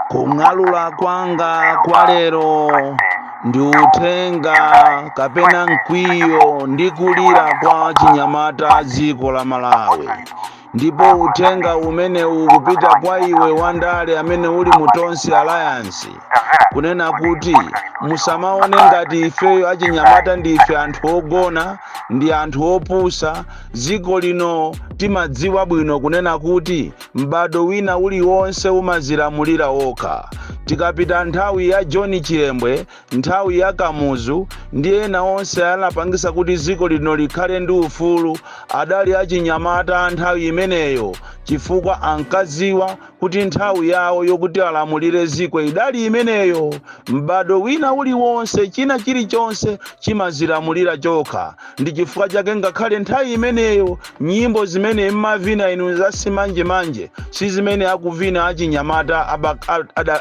kung'alula kwanga kwa lero ndi uthenga kapena mkwiyo ndi kulira kwa chinyamata dziko la malawi ndipo uthenga umenewu ukupita kwa iwe wandale amene uli mu tonse alliance kunena kuti musamaone ngati ifeyo achinyamata ndife anthu ogona ndi anthu opusa Dziko lino timadziwa bwino kunena kuti m'bado wina uliwonse umazilamulira okha. Tikapita nthawi ya John Chilembwe, nthawi ya Kamuzu ndi ena onse anapangisa kuti dziko lino likhale ndi ufulu adali achinyamata a nthawi imeneyo chifukwa ankadziwa kuti nthawi yawo yokuti alamulire dziko idali imeneyo m'bado wina uliwonse china chilichonse chimazilamulira chokha ndi chifukwa chake ngakhale nthawi imeneyo nyimbo zimene mmavina inu zasimanjemanje si zimene akuvina achinyamata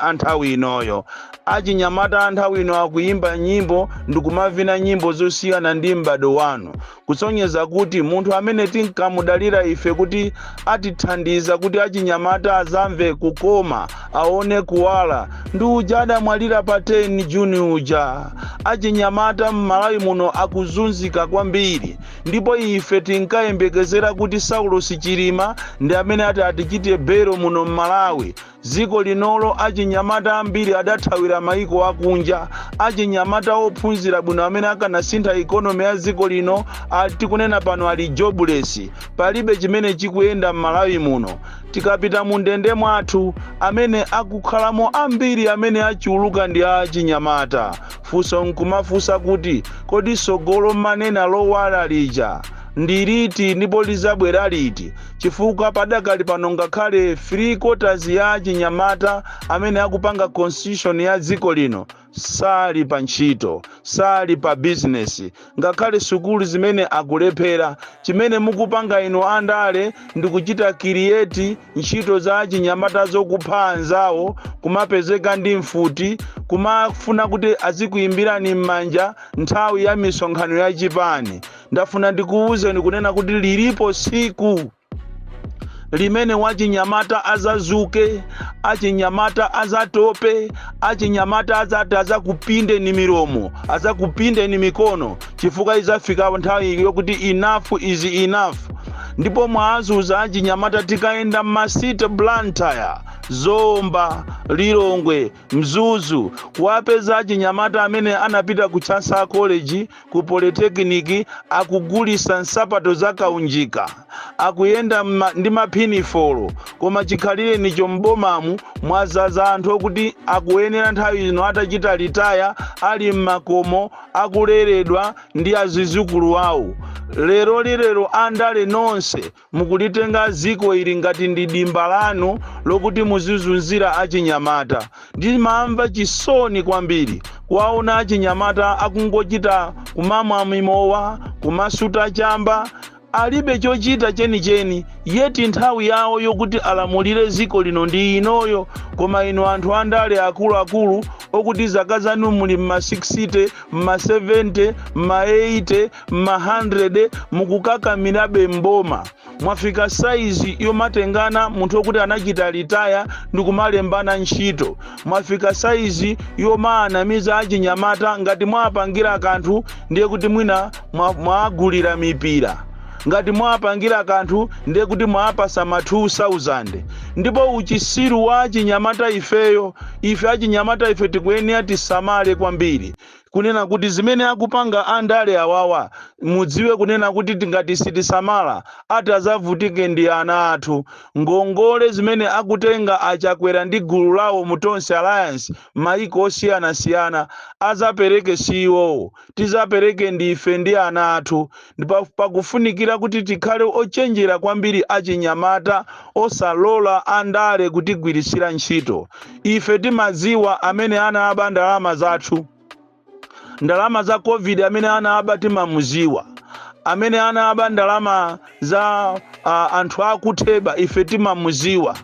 a nthawi inoyo achinyamata a nthawi ino akuyimba nyimbo ndikumavina nyimbo zosiyana ndi m'bado wanu kusonyeza kuti munthu amene tinkamudalira ife kuti atithandiza kuti achinyamata azamve kukoma aone kuwala ndi uja adamwalira pa 10 juni uja achinyamata m'malawi muno akuzunzika kwambiri ndipo ife tinkayembekezera kuti saulos chilima ndi amene ati atichite bail muno m'malawi Dziko linolo achinyamata ambiri adathawira maiko akunja. Achinyamata ophunzira bwino amene akanasintha economy ya dziko lino, tikunena pano ali jobless. Palibe chimene chikuyenda m'Malawi muno. Tikapita mundende mwathu, amene akukhalamo ambiri amene achuluka ndi achinyamata. Funso nkumafunsa kuti, kodi tsogolo mmanena lowala lija ndi liti ndipo lidzabwera liti? chifukwa padakali pano ngakhale 3 quarters ya achinyamata amene akupanga constitution ya dziko lino sali pa ntchito sali pa bizinesi ngakhale sukulu zimene akulephera chimene mukupanga inu andale ndi kuchita create ntchito za achinyamata zokupha anzawo kumapezeka ndi mfuti kumafuna kuti azikuyimbirani m'manja nthawi ya misonkhano ya chipani ndafuna ndikuwuzeni kunena kuti lilipo tsiku limene wachinyamata azazuke achinyamata azatope achinyamata azati azakupinde ni milomo azakupinde ni mikono chifukwa izafika nthawi yokuti enough is enough ndipo mwazunza achinyamata tikayenda m'ma city blantyre zomba lilongwe Mzuzu, kuwapeza achinyamata amene anapita ku Chancellor College, ku Polytechnic akugulisa nsapato za kaunjika, akuyenda ndi maphinifolo, koma chikhalirenicho m'bomamu mwazaza anthu okuti akuyenera nthawi ino atachita litaya, ali mmakomo akuleredwa ndi azizukulu awo. Lerolilero andale nonse Mukulitenga dziko ili ngati ndi dimba lanu lokuti muzizunzira achinyamata. Ndimamva chisoni kwambiri kuwaona achinyamata akungochita kumamwa mimowa, kumasuta chamba, alibe chochita chenicheni yet nthawi yawo yokuti alamulire dziko lino ndi inoyo koma inu anthu andale akuluakulu okuti zaka zanu muli m'ma 60, m'ma 70, m'ma 80. m'mahandrede mukukakamirabe mboma mwafika saizi yomatengana munthu wokuti anachita litaya ndi kumalembana ntchito mwafika saizi yomaanamiza achinyamata ngati mwaapangira kanthu ndiye kuti mwina mwa- mwaagulira mipira ngati mwaapangira kanthu ndiye kuti mwaapasa ma 2000 ndipo uchisiru wa achinyamata ifeyo ife achinyamata ife tikuyenera tisamale kwambiri kunena kuti zimene akupanga andale awawa mudziwe kunena kuti tingati sitisamala atazavutike ndi ana athu ngongole zimene akutenga achakwera ndi gulu lawo mu tonse alliance maiko osiyanasiyana azapereke si iwowo tizapereke ndife ndi ana athu ndipo pakufunikira kuti tikhale ochenjera kwambiri achinyamata osalola andale kutigwiritsira ntchito ife timaziwa amene anaba ndalama zathu ndalama za covid amene anaba timamuziwa amene anaba ndalama za uh, anthu akutheba ife timamuziwa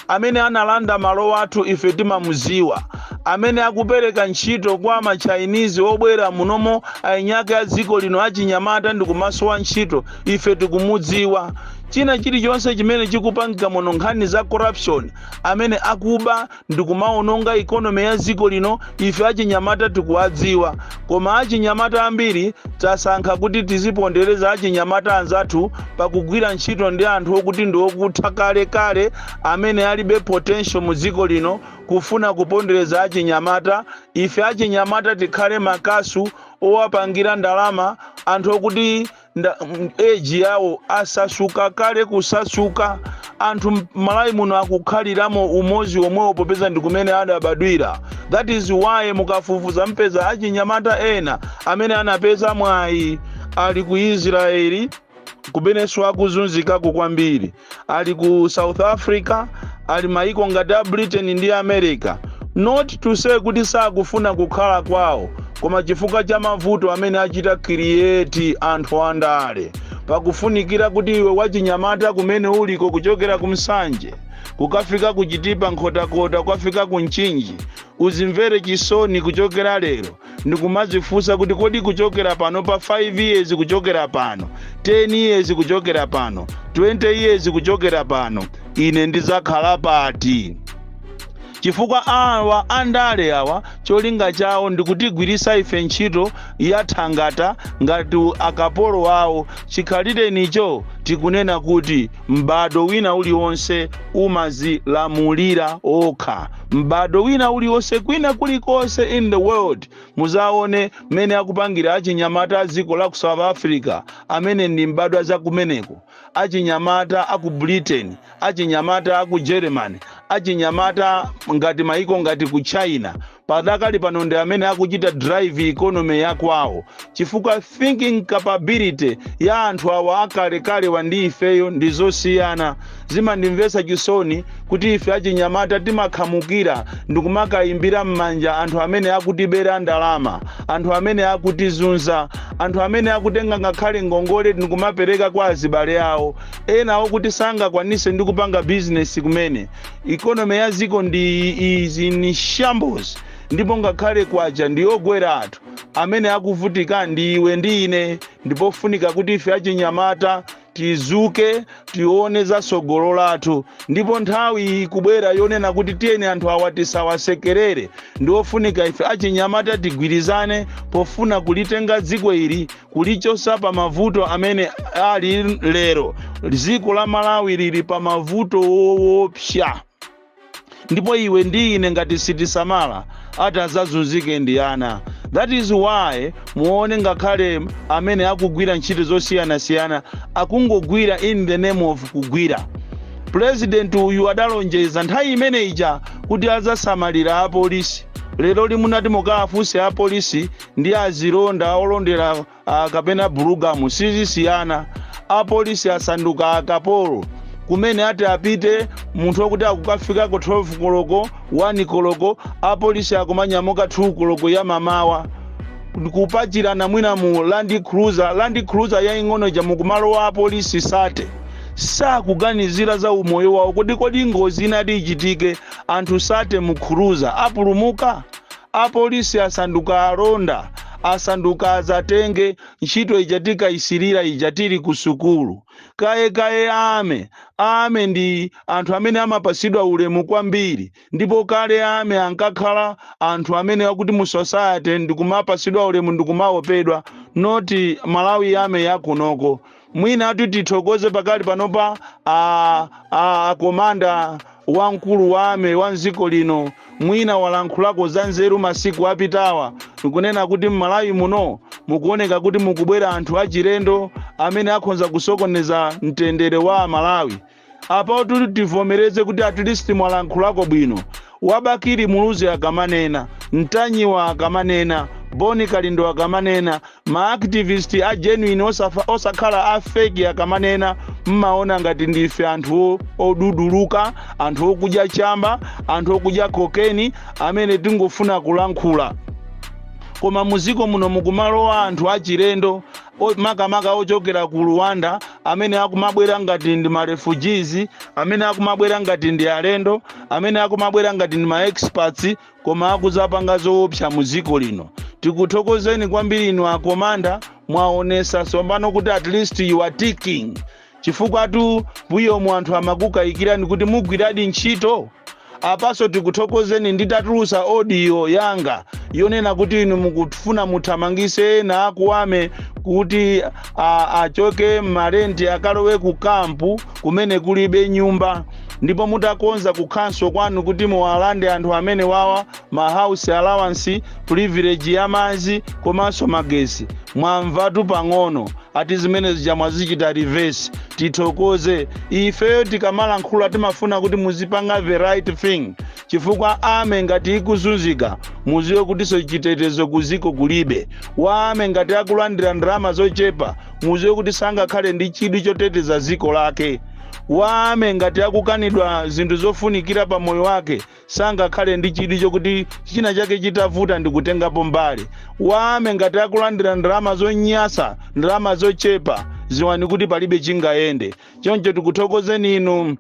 Amene analanda malo athu ife timamuziwa. Amene akupereka ntchito kwa ma Chinese obwera munomo ainyake a dziko lino achinyamata ndikumasowa ntchito ife tikumudziwa. China chilichonse chimene chikupangika muno nkhani za corruption, amene akuba ndikumaononga economy ya dziko lino ife achinyamata tikuwadziwa. Koma achinyamata ambiri tasankha kuti tizipondereza achinyamata anzathu pakugwira ntchito ndi anthu okuti ndi okutha kale kale amene alibe potential mu dziko lino kufuna kupondereza achinyamata ife achinyamata tikhale makasu owapangira ndalama anthu okuti nda m- age yawo asamuka kale kusamuka anthu m- malawi muno akukhaliramo umozi omwewo popeza ndi kumene adabadwira that is why mukafufuza mpeza achinyamata ena amene anapeza mwayi ali ku israeli kumenenso akuzunzikako kwambiri ali ku south africa ali maiko ngati a britain ndi america not to say kuti sakufuna kukhala kwawo koma chifukwa cha mavuto amene achita create anthu andale pakufunikira kuti iwe wachinyamata kumene uliko kuchokera ku nsanje kukafika ku chitipa nkhotakota kukafika ku mchinji uzimvere chisoni kuchokera lero ndikumadzifunsa kuti kodi kuchokera pano pa 5 years kuchokera pano 10 years kuchokera pano 20 years kuchokera pano ine ndizakhala pati chifukwa awa andale awa cholinga chawo ndikutigwirisa ife ntchito ya thangata ngati akapolo wawo chikhalirenicho tikunena kuti M'bado wina uliwonse umazilamulira okha. M'bado wina uliwonse kwina kulikonse in the world muzaone mmene akupangira achinyamata aziko la ku South Africa amene ndi m'badwa za kumeneko, achinyamata aku Britain, achinyamata aku Germany, achinyamata ngati maiko ngati ku China. padakali pano ndi amene akuchita drive economy ya kwawo chifukwa thinking capability ya anthu awa akalekalewa ndi ifeyo ndi zosiyana zimandimvesa chisoni kuti ife achinyamata timakhamukira ndikumakayimbira m'manja anthu amene akutibera ndalama anthu amene akutizunza anthu amene akutenga ngakhale ngongole ndikumapereka kwa azibale awo ena okuti sangakwanise ndi kupanga bizinesi kumene ikonomi ya dziko ndi izi in shambles ndipo ngakhale kwacha ndi yogwera anthu amene akuvutika ndi iwe ndi ine ndipofunika kuti ife achinyamata tizuke tione za tsogolo lathu ndipo nthawi ikubwera yonena kuti tiyeni anthu awa tisawasekerere ndiofunika ife achinyamata tigwirizane pofuna kulitenga dziko ili kulichosa pa mavuto amene ali lero dziko la malawi lili pa mavuto woopsa ndipo iwe ndi ine ngati sitisamala ati azazunzike ndi ana that is why muone ngakhale amene akugwira ntchito zosiyanasiyana akungogwira in the name of kugwira pulezidenti uyu adalonjeza nthawi imene ija kuti azasamalira apolisi lero limunati mukafunse apolisi ndi azilonda olondera ah, kapena bulugamu sizisiyana apolisi asanduka akapolo kumene ati apite munthu wakuti akukafikako 12 koloko 1 koloko apolisi akumanyamuka 2 koloko ya mamawa kupachirana mwina mu land cruiser land cruiser yaing'ono ija mukumalowa apolisi sate sakuganizira za umoyo wawo kuti kodi ngozi inati ichitike anthu sate mu cruiser apulumuka Apolisi asanduka alonda, asanduka azatenge, ntchito ija tinkaisilira ija tili ku sukulu. Kaye kaye Army, Army ndi anthu amene amapasidwa ulemu kwambiri ndipo kale Army ankakhala anthu amene akuti mu society ndikumapasidwa ulemu ndikumaopedwa not Malawi Army yakunoko. Mwinatu tithokoze pakali panopa a, a, a komanda wamkulu wa ame wa mdziko lino mwina walankhulako za nzeru masiku apitawa ndikunena kuti m'malawi muno mukuoneka kuti mukubwera anthu achilendo amene akhonza kusokoneza mtendere wa amalawi apatu tivomereze kuti at least mwalankhulako bwino wabakiri muluzi akamanena mtanyiwa akamanena boni kalindo akamanena maactivist a genuine osakhala a feki akamanena mmaona ngati ndife anthu oduduluka anthu okudya chamba anthu okudya kokeni amene tingofuna kulankhula koma muziko muno mukumalowa anthu achilendo makamaka ochokera ku Rwanda amene akumabwera ngati ndi ma refugees, amene akumabwera ngati ndi alendo, amene akumabwera ngati ndi ma experts koma akuzapanga zoopsa mu dziko lino. Tikuthokozeni kwambiri inu akomanda mwaonesa tsopano kuti at least you are ticking. Chifukwatu mbuyomu anthu amakukayikirani kuti mugwiradi ntchito. Apanso tikuthokozeni nditatulutsa audio yanga yonena kuti inu mukufuna muthamangise ena aku ame kuti a, achoke m'marenti akalowe ku kampu kumene kulibe nyumba ndipo mutakonza kunkhanza kwanu kuti muwalande anthu amene wawa ma house allowance, privilege ya madzi komanso magesi. Mwamvatu pang'ono ati zimene zija mwazichita reverse. Tithokoze ifeyo tikamalankhula timafuna kuti muzipanga the right thing chifukwa ame ngati ikuzunzika muziwe kutinso chitetezo kuziko kulibe wa ame ngati akulandira ndalama zochepa muziwe kuti sangakhale ndi chidwi choteteza ziko lake wa ame ngati akukanidwa zinthu zofunikira pa moyo wake sangakhale ndi chidwi chokuti china chake chitavuta ndikutengapo mbali wa ame ngati akulandira ndalama zonyasa ndalama zochepa ziwani kuti palibe chingayende choncho tikuthokozeni inu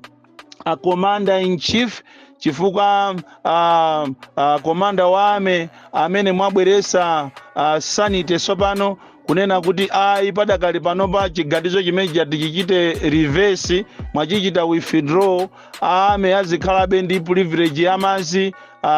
a commander in chief chifukwa a, a komanda wa ame amene mwabweresa a, sanity tsopano kunena kuti ayi padakali panopa chiganizo chimene chati chichite reverse mwachichita withdraw army azikhalabe ndi privilege ya madzi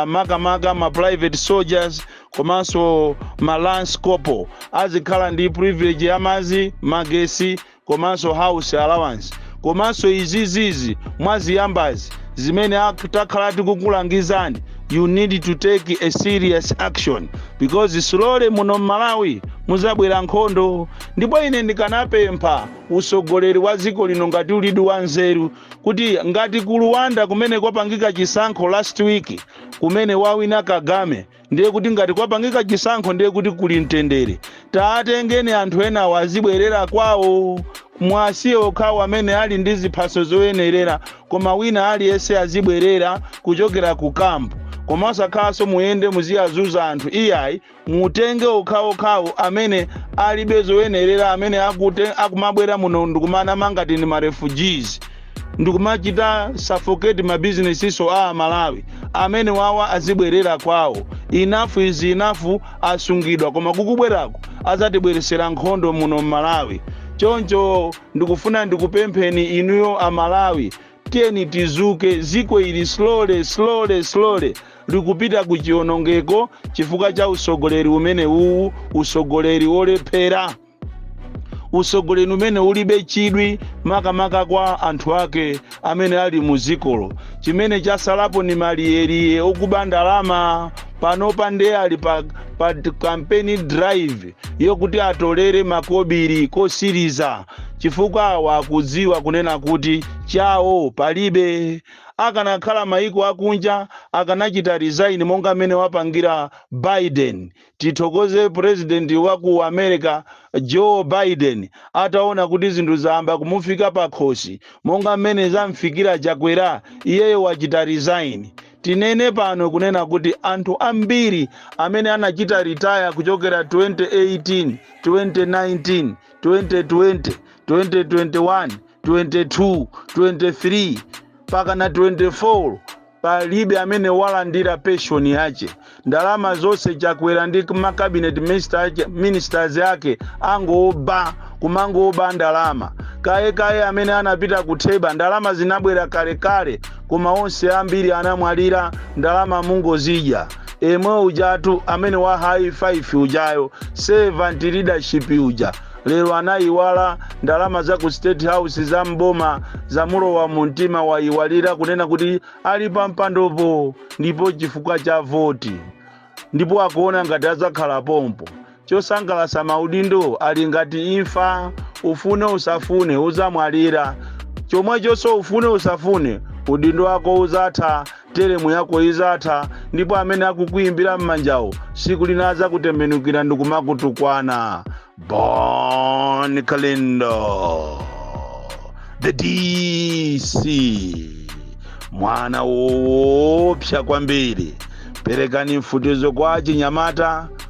makamaka ma private soldiers komanso ma lance corporal azikhala ndi privilege ya madzi magesi komanso house allowance komanso izizizi mwaziyambazi zimene takhala tikukulangizani you need to take a serious action because slowly muno mmalawi muzabwera nkhondo ndipo ine ndikanapempha utsogoleri wa dziko lino ngati ulidi wa nzeru kuti ngati ku Rwanda kumene kwapangika chisankho last week kumene wawina Kagame ndiye kuti ngati kwapangika chisankho ndiye kuti kuli mtendere taatengeni anthu enawo azibwerera kwawo mwasiye okhawo amene ali ndi ziphaso zoyenerera koma wina aliyense azibwerera kuchokera ku kampu koma osakhalanso muyende muziyazuza anthu iyayi mutenge okhaokhawo amene alibe zoyenerera amene akumabwera muno ndikumanama ngati ndi ma refugees ndikumachita suffocate ma businessinso a amalawi amene wawa azibwerera kwawo enough is enough asungidwa koma kukubwerako azatibweresera nkhondo muno mmalawi choncho ndikufuna ndikupempheni inuyo amalawi Tiyeni tizuke, dziko ili slowly slowly slowly likupita ku chionongeko chifukwa cha usogoleri umenewuwu, usogoleri olephera, usogoleri umene ulibe chidwi makamaka kwa anthu ake amene ali mu dzikolo. Chimene chasalapo ndi maliyeliye okuba ndalama, panopa nde ali pa, pa campaign drive yokuti atolere makobiri kosiliza. chifukwa awa akudziwa kunena kuti chawo palibe akanakhala maiko akunja akanachita resign monga mmene wapangira Biden tithokoze president wa ku America Joe Biden ataona kuti zinthu zayamba kumufika pakhosi monga mmene zamfikira Chakwera iyeyo wachita resign tinene pano kunena kuti anthu ambiri amene anachita retire kuchokera 2018 2019 2020 2021 22 23 mpaka na 24 palibe amene walandira penshoni yache ndalama zonse Chakwera ndi ma cabinet ministers ake angoba kumangoba ndalama kaye kaye amene anapita ku TEBA ndalama zinabwera kalekale koma onse ambiri anamwalira ndalama mungozidya emwe ujatu amene wa high five ujayo servant leadership uja lero anayiwala ndalama za ku State House za mboma zamulowa mu mtima wayiwalira kunena kuti ali pa mpandopo ndipo chifukwa cha voti ndipo akuona ngati adzakhala pompo Chosangalatsa maudindo ali ngati imfa, ufune usafune udzamwalira. Chomwechonso ufune usafune, udindo wako udzatha, teremu yako idzatha, ndipo amene akukuimbira m'manjawo tsiku lina adzakutembenukira ndikumakutukwana. Bon Kalindo, the DC, mwana woopsa kwambiri. Perekani mfutizo kwa achinyamata